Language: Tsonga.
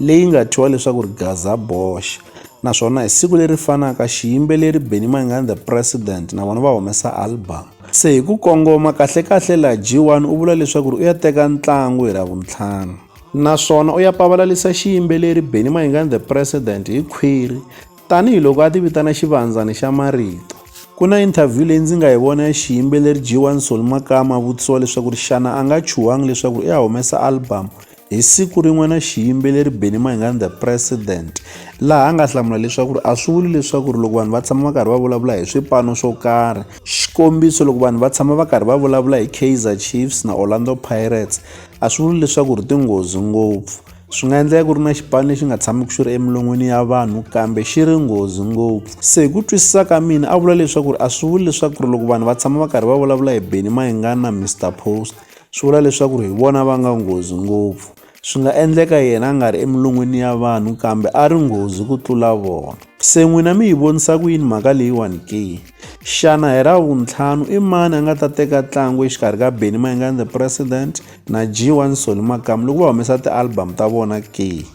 leyi nga thyiwa leswaku ri Gaza Bosch naswona hi siku leri fanaka xiyimbeleri Benny Mayengani the President na vona va humesa album. Se hi ku kongoma kahlekahle laha G1 u vula leswaku ri u ya teka ntlangu hi Ravuntlhanu. Naswona u ya pavalalisa xiyimbeleri Benny Mayengani the President hi khwiri tanihi loko a tivitana xivandzani xa marito. Ku na interview leyi ndzi nga yi vona ya xiyimbeleri G1 Solly Makama a vutisiwa leswaku ri xana a nga chuhangi leswaku ri u ya humesa album Hi siku rin'we na xiyimbeleri Benny Mayengani the president laha a nga hlamula leswaku a swi vuli leswaku loko vanhu va tshama va karhi va vulavula hi swipano swo karhi xikombiso loko vanhu va tshama va karhi va vulavula hi Kaizer Chiefs na Orlando Pirates a swi vuli leswaku ri tinghozi ngopfu swi nga endleka ku ri na xipano lexi nga tshamiki xi ri emilon'wini ya vanhu kambe xi ri nghozi ngopfu se hi ku twisisa ka mina a vula leswaku a swi vuli leswaku loko vanhu va tshama va karhi va vulavula hi Benny Mayengani na Mr Post swi vula leswaku ri hi vona va nga nghozi ngopfu swi nga endleka yena a nga ri emilon'wini ya vanhu kambe a ri nghozi ku tlula vona se n'wina mi yi vonisa ku yini mhaka leyiwani ke xana hi ra vuntlhanu i mani a nga ta teka ntlangu exikarhi ka benny mayingani the president na g one soli makamu loko va humesa ti-album ta vona ke